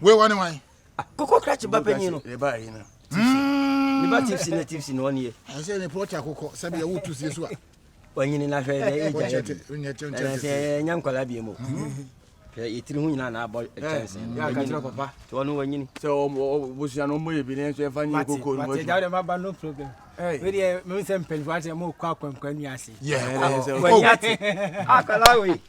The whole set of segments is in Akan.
Wei wɔ ne wan? Akokɔ krakye ba panyin no. Yɛ ba yi no. Hmm. Ne ba tipsi ne tipsi na ɔne yɛ. Ɛsɛ ne pɔtɔ akokɔ sɛbi ɛwɔ tu sie so a. Wanyini na hwɛ na ɛyɛ gya yɛ bi. Ɛna sɛ ɛnya nkwalaa bi mu. Hwɛ yɛtiri ho nyinaa na abɔ kyɛnse. Yɛ akakyerɛ papa. Sɛ ɔno wanyini. Sɛ ɔbosua no ɔmmɔ yɛ bi ne nso ɛfa nyɛ koko no. Mate gya dɛ ma ba no problem. Wei deɛ mehu sɛ mpanyinfoɔ ate ɛma ɔkɔ akwankwa nwi ase. Yɛ kɔ. Wanyini ate. Akwadaa wei.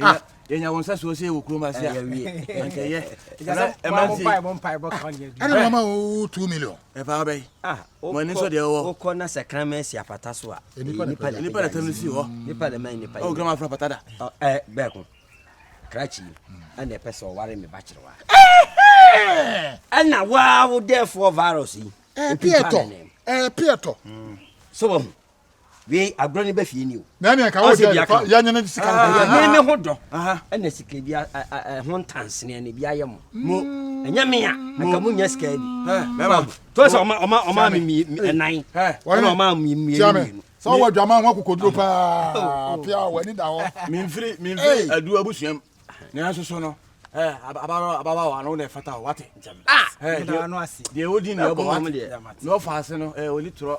Ah. yɛnya wɔn sɛ soɔ sɛ yɛwɔ kurom ase a anka ɛyɛ ɛne mama wo 2 million ɛfa wobɛyi mɔne nso deɛ wɔwɔ wokɔ na sɛ krama asi apata so a nipa na tam no si hɔ nipa na ma nipa wo krama afra pata da bɛɛko krakyi ɛna ɛpɛ sɛ ɔware me ba kyerewa ɛna waa wo dɛfoɔ virus yi ɛpiɛtɔ ɛpiɛtɔ so wɔ ho wei agorɔ ne ba fie ni o. na ɛne ɛka wo dɛ yɛnyɛ ne sika no ɛyɛ ne ne ho dɔ ɛna sika bi ho ntanseneɛ no bi ayɛ mo mo mm. ɛnyɛ me a anka mo nya sika bi to sɛ ɔma ɔma ɔma me mi ɛnan ɛna ɔma me mmienu mmienu sɛ ɔwɔ adwaman ho akokoduro paa oh, oh. pia w'ani da hɔ memfiri memfiri adu abusuam nanso so no ababawa ano na ɛfata o wate deɛ wodi ne ɛbɔ wate na ɔfa ase no ɔni torɔ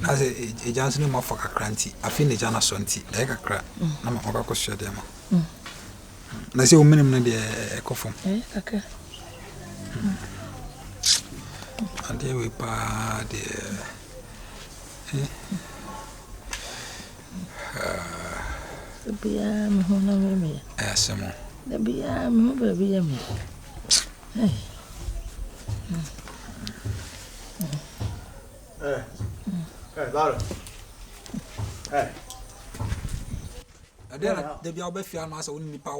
Na sɛ agya nso ne mu afɔ kakra nti, afei na agya no asɔ nti, ɛyɛ kakra na ma ɔkɔ akɔsoa deɛ ma. Na sɛ womenem no deɛ ɛkɔ fam. Adeɛ wei paa deɛ. Biara me ho na me me. Ɛsɛ mo. Da biara me ho baabi yɛ me. Hey. ɛdeɛ na da bia wobɛfi ano asɛ wo ne nipa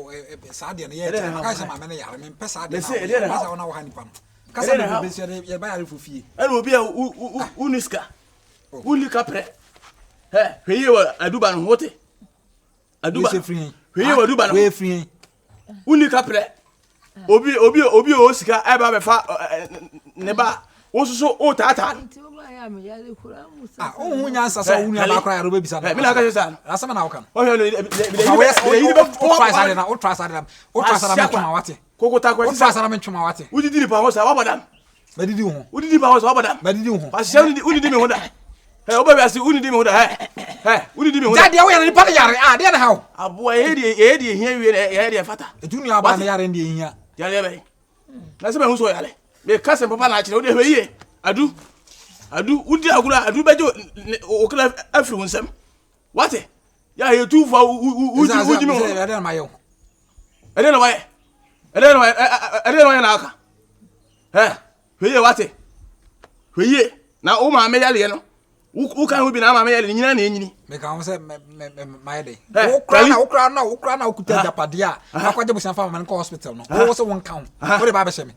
saa deɛ no yɛ kyɛ maka sɛ maame no yare mempɛ saa deɛ na sɛ wona woha nipa no kasa ne bɛbɛ sɛ yɛba yarefo fie ɛne obi a woni sika wonni kaprɛ hwɛ yie wɔ aduba no ho te aduba hwɛ yie wɔ aduba no ho wonni kaprɛ obi obi obi a ɔwɔ sika ɛba bɛfa ne ba wososo wotaataa wohu nyansa sɛ wo nuaba kora yɛde wobɛbisa noasɛm na woka nowotra sa de nam wate wodidi nipa ho sa wabɔ dam Mɛdidi wo ho. Wodidi ma wo sɛ wabɔ da. Mɛdidi wo ho. Wahyɛ wodidi wodidi mi ho da. Ɛ wobɛ wiase wodidi mi ho da ɛ ɛ wodidi mi ho da. Gya deɛ woyɛ no nipa no yare a deɛ na ha o. Aboa yɛyɛ deɛ yɛyɛ deɛ ehia wie na yɛyɛ deɛ fata. Etu nua aba ne yare deɛ ehia. Yare bɛn. Na sɛ bɛn ho so yare. Bɛ ka sɛ papa na akyerɛ wode hwɛ yie. Adu adu wodi agorɔ a adu bɛgye okra afiri wo nsam. wate yɛ a yɛ tu fa wogyi me hɔ ɛdɛ na mayɛ wo ɛdɛ na wayɛ ɛdɛ na wayɛ ɛdɛ na wayɛ na aka ɛ hwɛ yie wate hwɛ yie na wo maame yɛleɛ no woka ho bi na ama meyɛ ne nyina na ɛnyini meka ho sɛ mayɛ dɛ wokora na wokora na wokora na wokuta agyapadeɛ a akɔgye bosia fa ma no kɔ hospital no wowo sɛ wonka ho wode baabɛhyɛ me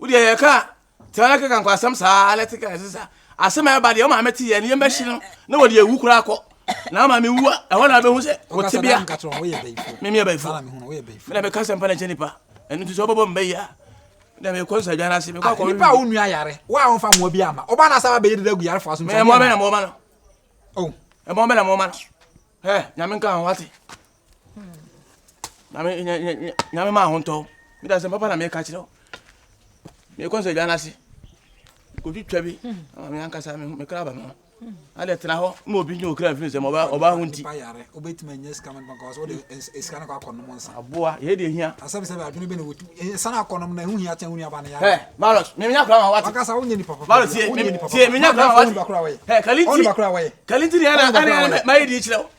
wodeɛ yɛka tɛna keka nkɔ asɛm saa lɛte ka ɛsɛ sa asɛm a ɛba deɛ ɔma mɛte yɛ nneɛma hyi no na wɔde awu koraa kɔ na ama me wu a ɛhɔ na bɛhu sɛ wɔte bea meme abaifo mena meka sɛm pa na kyɛ nipa ɛno nti sɛ ɔbɛbɔ mbɛ yi a na mekɔ nsa adwa no ase mekɔ akɔ nipa a wo nua yare wo a wɔmfa mmoa bi ama ɔba no asɛ wabɛyɛ deda agu yarefoɔ so mmoa bɛ na mmoa ma no ɛmmoa bɛ na mmoa ma no nyame nka ho wate nyame ma ahontɔ meda sɛ papa na meka kyerɛ wo mekɔ sɛ dwa no ase kɔtwitwa bi ama me ankasa mekra ba me ho adɛ tena hɔ ma obi nyɛ okra mfiri sɛ ɔba ho nti aboa yɛ deɛ hia maros menya kora ma wate maros tie menya kora ma wate kalinti kalinti ne ɛna mayɛ deɛ kyerɛ wo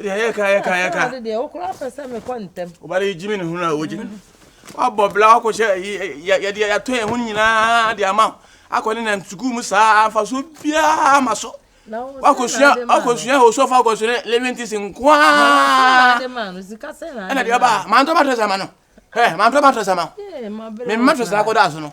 yɛyɛ ka yɛ ka yɛ ka. ɔde deɛ okura pɛ sɛ mekɔ ntɛm. ɔba de yi gyimi ne ho na ɔgyimi no wabɔ bla wakɔ hyɛ yɛde yɛatɔ yɛn ho nyinaa de ama akɔ ne nam sukuu mu saa afa so biara ma so wakɔsua wakɔsua osɔfo akɔsua living tis nkoaa ɛna deɛ ɔba mantɔ matɔ sama no ɛ mantɔ matɔ sama me mmatɔ saa kɔda so no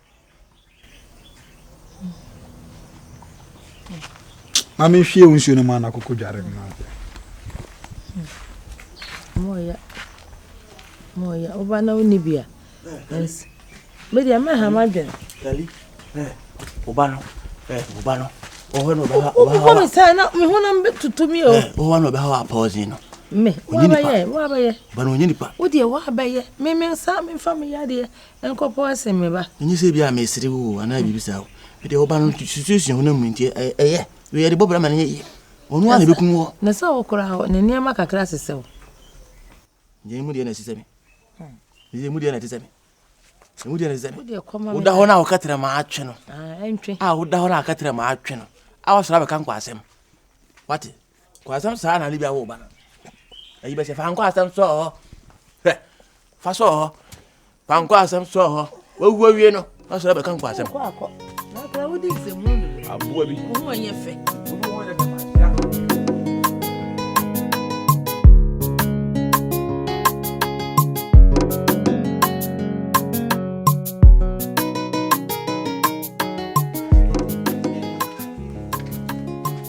ma menhwie wo nsuo no ma no akokɔ dware no woba na wonni bi a medeɛ mɛha madwene woba no woba no wokɔ me sɛ na mehonam bɛtutu me o wowa na ɔbɛha wɔ apɔɔsen no me woabɛyɛ woabɛyɛ ba na ɔnyɛ nipa wodeɛ woabɛyɛ memesa memfa me yadeɛ Nkɔpɔ ase, me ba. Ɛnyɛ sɛ ebia meresere wo o anaa biribi saa o. Ɛdeɛ ɔba no situation honam mu nti ɛyɛ. Wei yɛde bɔ bra ma no nyɛ yie. Ɔno ara na ɛbɛkum wo. Na sɛ wo koraa hɔ, ne nneɛma kakra sesɛ wo. Deɛ emu deɛ na ɛsesɛ me. Deɛ emu deɛ na ɛtesɛ me. Emu deɛ na ɛsesɛ me. Woda hɔ no a woka tena ma atwe no. A woda hɔ no a woka tena ma atwe no. A wasɔre abɛka nkwaasɛm. Wate? Kɔ asɛm saa na ne bi awo ba no ayi bɛsɛ fa nkɔ asɛm sɔɔ hɔ hwɛ fa sɔɔ hɔ fa nkɔ asɛm sɔɔ hɔ wawu awie no na sɔrɔ bɛka nkɔ asɛm aboa bi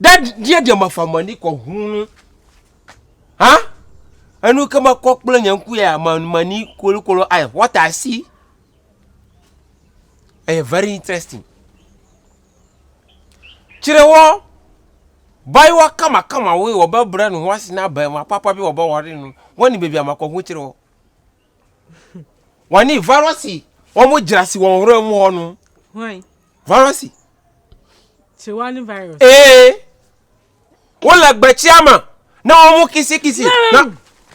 dad deɛ deɛ mafa m'ani kɔhunu no ha ɛno kama kɔkpla nyanku yɛ a m'ani kolokolo ayɛ what I see ɛyɛ very interesting kyerɛ wɔ bayewa kamakama wei wɔbɛbrɛ ne ho ase na abɛɛma papa bi wɔbɛware no wɔne baabi amakɔho kyerɛ wɔ wɔne virus wɔn gyina se wɔn hora mu hɔ no Virus. Tiwa ne virus. Ee. Wo la gbɛkyi ama na wɔn mo kisi kisi na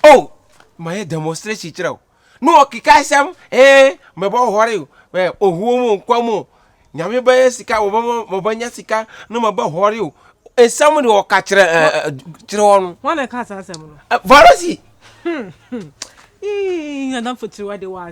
o oh, ma yɛ demonstration kyerɛ o na ɔkeka asɛm ee mɛbɔ ɔhɔre o ɛ ohuo mu nkwa mu nyame bɛyɛ sika wɔbɛma wɔbɛnya sika na mɛbɔ ɔhɔre o nsɛm de ɔka kyerɛ ɛ kyerɛ wɔn. Wɔn na ɛka saa asɛm no. Virus. Hmm. Hmm. Ee, adamfo tiwa de wa.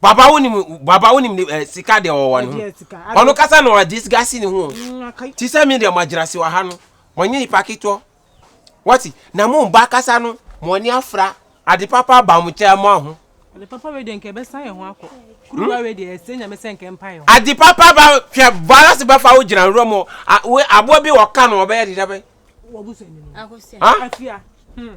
Baba wo nim baba wo nim eh, sika de ɔwɔ ne ho. Ɔno kasa na ɔde disgasi ne ho. Mm, Ti sɛ me de magyina se wɔ ha no. Mɔnyɛ nipa ketewa. Wɔte na mo mba kasa no mo ani afra ade papa ba mo kyɛ mo aho. Ade papa we de nka ɛbɛsan yɛn ho akɔ. Kuruwa we de ɛsɛ nyame sɛ nka mpa yɛn ho. Ade papa ba hwɛ bala se bɛfa wo gyina nwura mu. We aboa bi wɔka no ɔbɛyɛ de dɛbɛ. Wɔbu sɛ ni. Akosua. Afia. Hmm.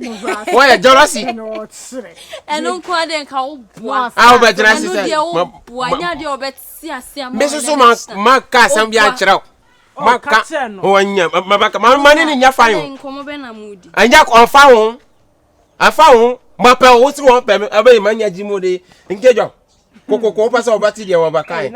wɔyɛ jealousy ɛno nko a dɛ nka woboa a wobɛgyina ase sɛ me soso maka asɛm bi ankyerɛ wo maka mane ne nya fa ho ɛnyɛ ɔmfa ho afa ho mapɛ wo sere wɔn pɛ me ɛbɛyɛ ma nya gyi mu de nke dwa kokoko wopɛ sɛ wɔbɛte deɛ wɔbɛkae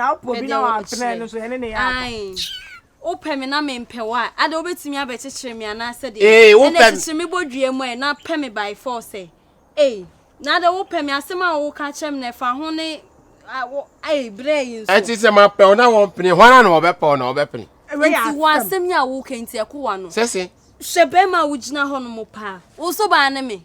Wopɛ me na mempɛ wo a, adɛn wobɛtumi abɛkyekyere me anaa sɛdeɛ? Ee, wopɛ Ɛnna me. kyekyere me bɔdua mu ɛ, na pɛ me by force ɛ. Ei, na adɛn wopɛ me asɛm a woka kyerɛ me no ɛfa ho ne a, wo, ei, berɛ yi nso. Ɛnti sɛ mapɛ wo na wɔmpene, hwan ara na wɔbɛpɛ wo na wɔbɛpene? Wei yɛ Nti wɔ asɛm. asɛm yi a woka yi nti ɛko w'ano? Sese. Hwɛ bɛrima a wogyina hɔ nom paa, wo nso baa ne me.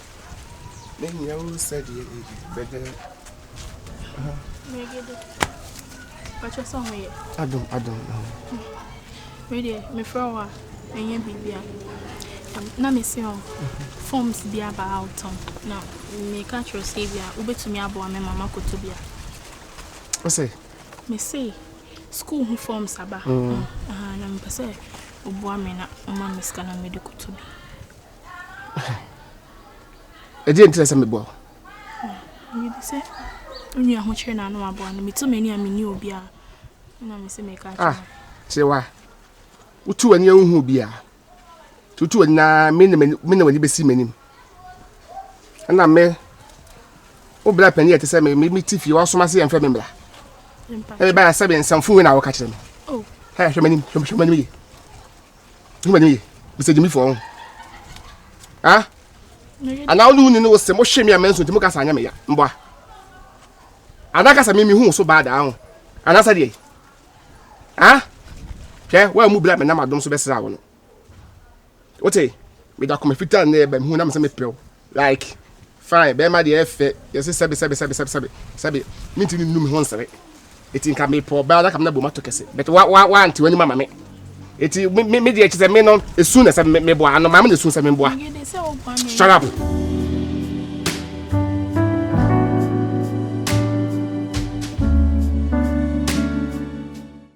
Mehia wo sɛdeɛ ɛdi bɛdɛ. Megede. Ɔkyɛ sɛ ɔmo yɛ. Adom adom ɛho. Medeɛ mefrɛ wo a ɛnyɛ biribi a. Na mese ɔ forms bi aba a wotɔn na meka kyerɛ sɛ bi a wobɛtumi aboa me ma makɔtɔ bi a. Ɔsɛ. Mese school ho forms aba. Mm. Mm. Na mepɛ sɛ woboa me na woma me sika na mede kɔtɔ bi. ɛdeɛ nti na sɛ meboa mede sɛ onua ho kyerɛ na ano aboa no meto m'ani a menni obi a na me sɛ meka kyerɛ ah, kyerɛ wa wotu w'ani wohu obi a tutu w'ani na me na w'ani bɛsi m'anim ɛna me wo bra pani ɛte sɛ me mete fie woasoma se yɛmfrɛ me mmra ɛbɛbɛa sɛ me nsɛmfo wei na woka kyerɛ me hwɛ m'anim hwɛ m'anim ye Nima ni Mr. Jimmy fo ho. Ah? Ana onu ni no se mo hwe me amenso ti mo kasa anya me ya. Mboa. Ana kasa me mi hu so bad ahụ. Ana sa die. Ah? Hwe wa mu bla me na madom so besra wo no. Wote? Me da koma fita na ebe hu na me se me pew. Like, Fine, bɛɛma deɛ ɛyɛ fɛ, yɛse sɛbe sɛbe sɛbe sɛbe sɛbe sɛbe, mentimi nnu me ho nsere, eti nka mepɛ ɔbaa na ka me na bom ato kɛse, but wa wa wante w'anim ama me, eti me me deɛ kyesɛ me no esu na sɛ me boa ano, maame na esu sɛ me boa, shut up.